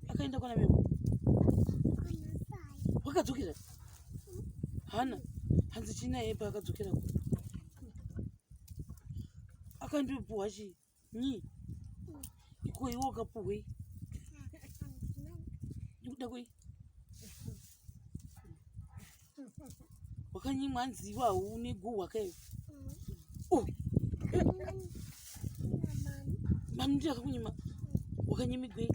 akaenda kwana memo wakadzokera hana hanzi china yepa akadzokera ku akandipuhwa chi nyi iko iwe ukapuhwei ndikuda kwei wakanyimwa hanzi iwe haune guhwa kaiwe oh. mani ndiye akakunyima wakanyimigwei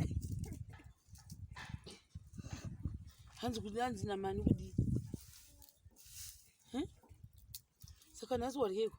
hanzi kuti hanzi namani kudii saka nhasi waryeko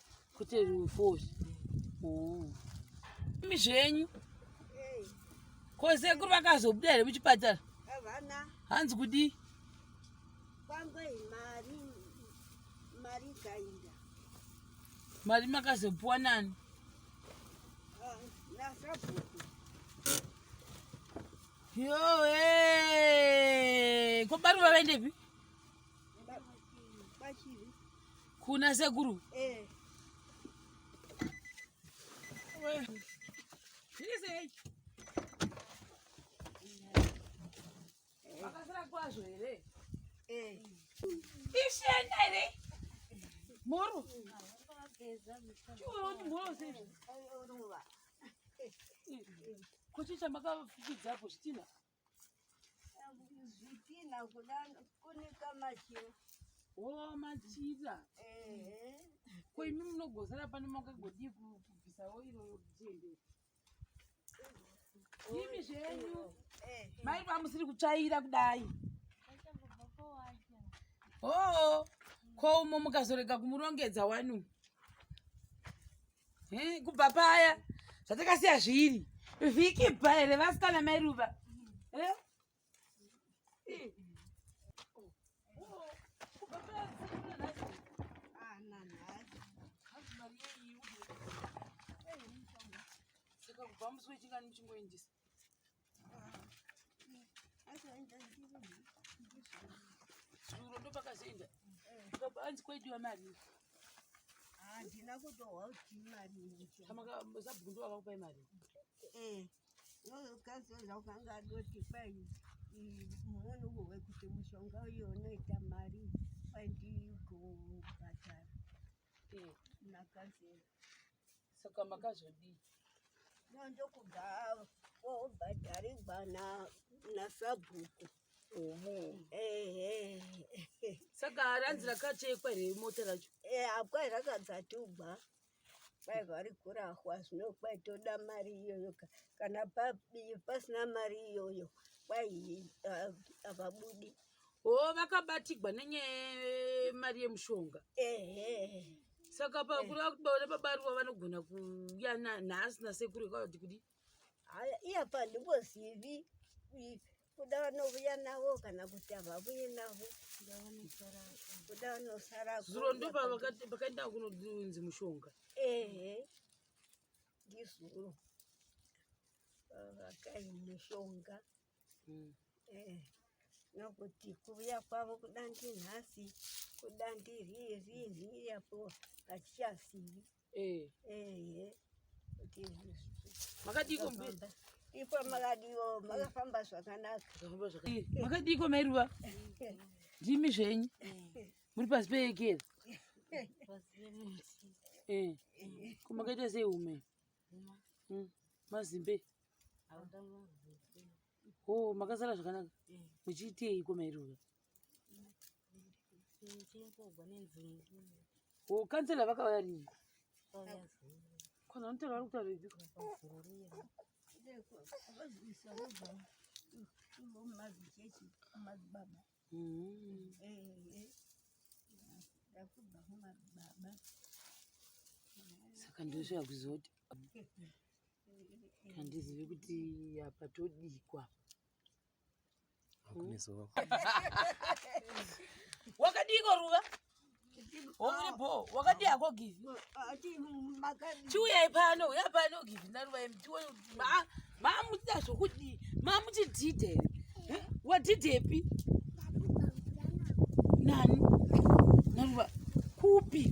kuti rufori oh. imi zvenyu kosekuru vakazobuda here muchipatara hanzi kudii mari makazopuwa nani yoe ko bari vavaendepi Kuna sekuru. Eh. Vakasira kwazvo here? Eh. Ishenda here? Moro. Chiwo moro sei? Kuchicha makafikidza hapo chitina. zvitina kuda kunika machira oh machira ko imi munogozara pano makagodii kubvisa oiro yokutiendera imi zvenyu mai vamusiri kutsvaira kudai hoo ko umo mukazorega kumurongedza wani Eh, kubva paya zvatakasiya zviri vhiki bva here vasikana mai ruva eh? saka kubva musi wechingani muchingoendesa Zuro ndopakazoenda ukabva anzi kwaidiwa mari handina kutohwa kuti mari sabhuku ndo vakakupai mari ukazoza ukanga adoti kwai moni uwe kuti mushonga uyo unoita mari kwai ndigobhadhara nakazera saka makazodii ndokuda obhadharigwa nasabhuku saka ranzi rakachekwa here mota racho eh, akwai rakadzatugwa kwai vari kurahwa zvino kwai toda mari iyoyo kana pasina mari iyoyo kwai havabudi Oh, vakabatigwa nenyaya mari yemushonga saka pakuri vakubaona pabaruwa vanogona kuuya nhasi nasekuru kwavati kudi haya iya pandingozivi kuda vanovuya navo kana kuti havavuye navo kuda vanosara zuro ndo pakaenda kunonzi mushonga ehe ndizuro vakayi mushonga mm. eh, nokuti kuuya kwavo kuda ndinhasi kuda ndiririni apo hachichazivi eh. ehe kuti makadiiko mberi ipo makadiwo makafamba zvakanaka eh, makadiiko mairuva ndimi zvenyu muri pasi peekera kumakaita sei ume hmm. mazimbe ho oh, makasara zvakanaka eh. muchiiteiko mairoka ho oh, kansela vakauya rini kana unotaura vari kutaura ipi saka ndosvika kuzoti handizivi kuti apa todikwa wakadiko ruva Womuri bho, wakati hako give. Chiuyai pano, uya pano give naruva yemi. Chiuyai, ma, ma muchita zvokudii, ma muchidhidhe here. Eh? Wadhidhepi? Nani? Naruva, kupi?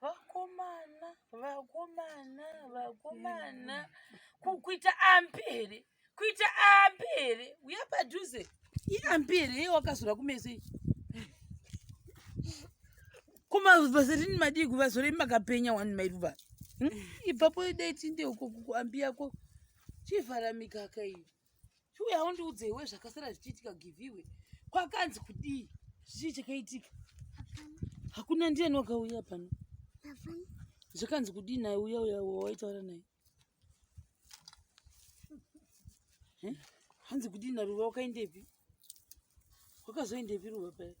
vakomana vakomana vakomana kuita ambi here kuita ambi here uya padhuze iambi here iye wakazora kumeso iyi kumavasarini madii kuvazorei makapenya wani mairuva hmm? ipapo dai tinde uko kuambi yako chivhara mikaka iyo chiuya undiudze iwe zvakasara zvichiitika giviwe kwakanzi kudii chii chakaitika hakuna ndiani wakauya pano zvakanzi kudii naye uya uya wawaitaura naye hanzi kudii naruva wakaendepi wakazoenda epi ruva paya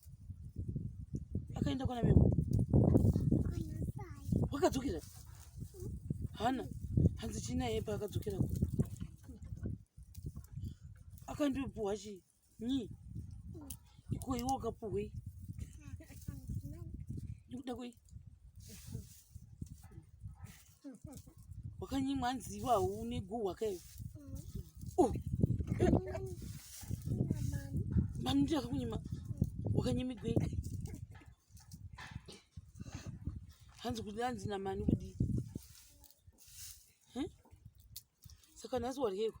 akaenda kwana memo wakadzokera hana hanzi chinaye paakadzokera ku akandipuhwa chi nyi iko iwe wakapuhwei ndikuda kwei wakanyimwa hanzi iwe haune guhwa kayo oh. mani ndi akakunyima wakanyimigwe hanzi kuti hanzi namani kudii saka nhasi waryeko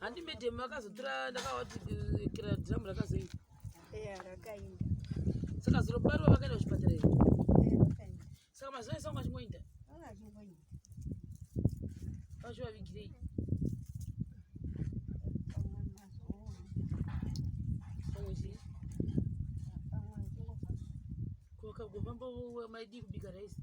handi madam vakazotora ndakavati eh, kira dram rakazoinda saka zuro barwa vakaenda kuchipatara here saka mazuva ese vanga achingoinda vachivavigirei kwakagofamba maidii kubika raisi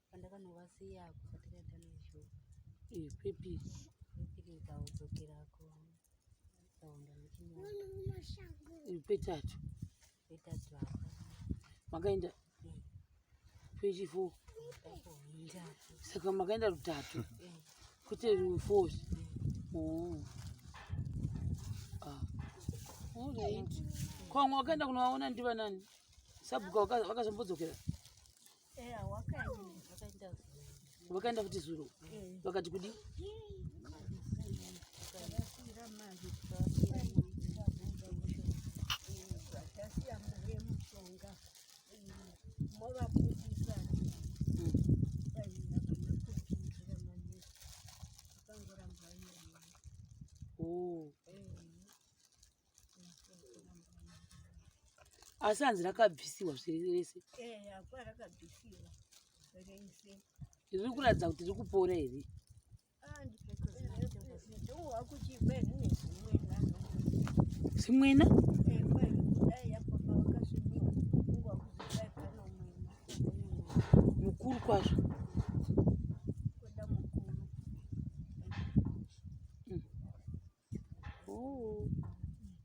pandakanovasiya kufa takaenda nezvo kwepi kwepiri kaudzokera ko kaunda kwetatu kwetatu apa makaenda kwechifo saka makaenda rutatu kwete rufo kwamwe wakaenda kunovaona ndivanani sabhuka wakazombodzokera vakaenda kuti zuro vakati kudi asi hanzi rakabvisiwa zviri rese riri kuratidza kuti riri kupora here zvimwena mukuru kwazvo Oh.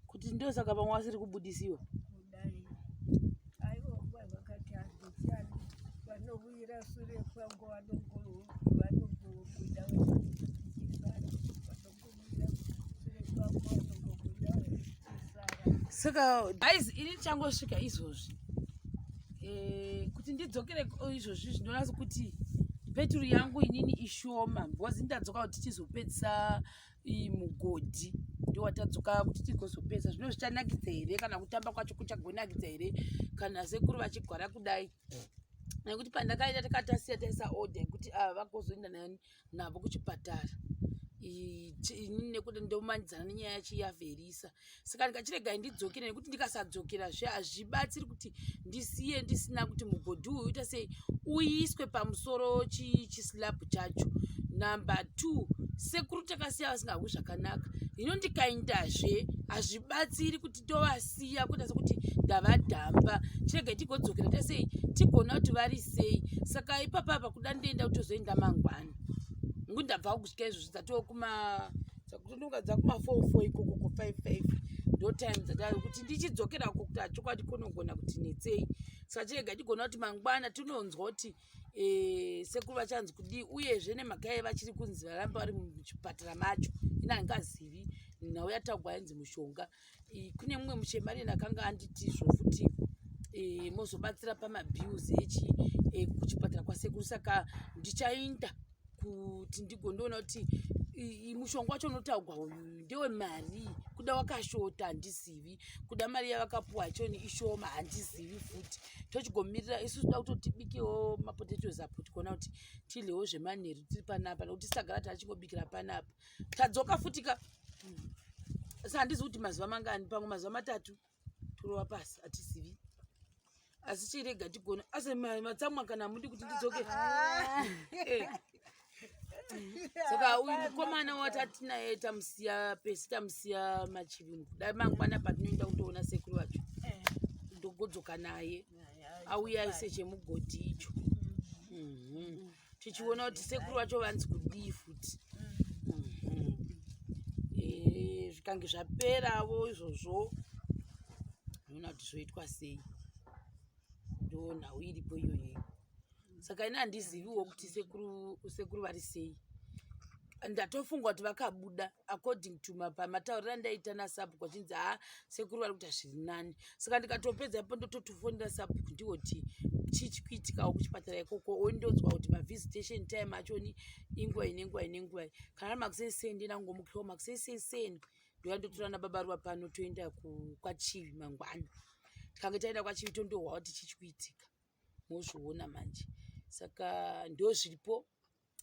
Kuti ndio saka vamwe vasiri kubudisiwa. Kudai. Aiwa kwa vakati hazvichani. Vanobuyira sure kwangu vanogoro vanogoro kuda wewe. Saka guys ini changosvika izvozvi. Eh kuti ndidzokere izvozvi zvinonasa kuti peturu yangu inini ishoma because ndadzoka kuti tizopedzisa iyi mugodhi ndiwatadzoka kuti tigozopedza zvino zvichanakidza here kana kutamba kwacho kuchagonakidza here kana sekuru vachigwara kudai nekuti pandakaita takatasiya taisa order yekuti ava ah, vagozoenda navo kuchipatara nekuti ndomanidzana nenyaya yacho yaverisa saka ndikachiregai ndidzokere nekuti ndikasadzokera zve hazvibatsiri kuti ndisiye ndisina kuti mugodhi uyu uita sei uiswe pamusoro chislab chacho number two sekuru takasiya vasingahwi zvakanaka hino ndikaindazve hazvibatsiri kuti tovasiya kuita sekuti ndavadhamba chirega tigodzokera ta sei tigona kuti vari sei saka ipapa apa kuda ndoenda kutozoenda mangwana ngu ndabva kugusika izvozvo dzatoo kuma dzakutondonga dzakumafofo ikoko ko five five ndo time dzadaro kuti ndichidzokera ko kuti hachokwadi konogona kuti netsei saka chirega chigona kuti mangwana tinonzwa kuti eh, sekuru vachanzi kudii uyezve nemhaka yai vachiri kunzi varamba vari muchipatara macho inangazivi nhau yataugwa yanzi mushonga e, kune mumwe muchemanini akanga anditizvo futi e, mozobatsira pamabills echi e, kuchipatara kwasekuru saka ndichainda kuti ndigondoona kuti mushonga wacho unotaugwa uyu ndewe mari kuda wakashota handizivi kuda mari yavakapuwa yachoni ishoma handizivi futi tochigomirira isu toda kutotibikewo mapotatoes apo tikuona kuti tidlewo zvemanheru tiri panapa nokuti sagara taachingobikira panapa tadzoka futi ka hmm. asi handizi kuti mazuva mangani pamwe mazuva matatu turova pasi hatizivi asi chirega tigona asi matsamwa kana hamudi kuti ndidzoke ah. eh. saka uyu mukomana watati naye tamusiya pesi tamusiya machivinu dai mangwana patinoenda kutoona sekuru vacho eh. ndogodzoka naye auya aise chemugodhi icho mm-hmm. tichiona kuti sekuru vacho vanzi kudii futi eh, zvikange zvaperavo izvozvo unoona kuti zvoitwa sei ndo nhau iripo iyoyeyo saka ini handiziviwo kuti sekuru vari sei ndatofunga kuti vakabuda according to pamatauriro andaita nasapuku achinzi ha ah, sekuru vari kuita zviri nani saka ndikatopedza ipo ndototofonera sapuku ndiwo kuti chii chikuitikawo kuchipatara ikoko ondodzwa kuti mavisitation time achoni inguva ine nguva ine nguva kana ari makuseni sei ndinangomukiwo makuseni sei sei ndova ndotora nababa ruva pano toenda kwachivi mangwana tikange taenda kwachivi tondohwa kuti chii chikuitika mozviona manje saka ndozviripo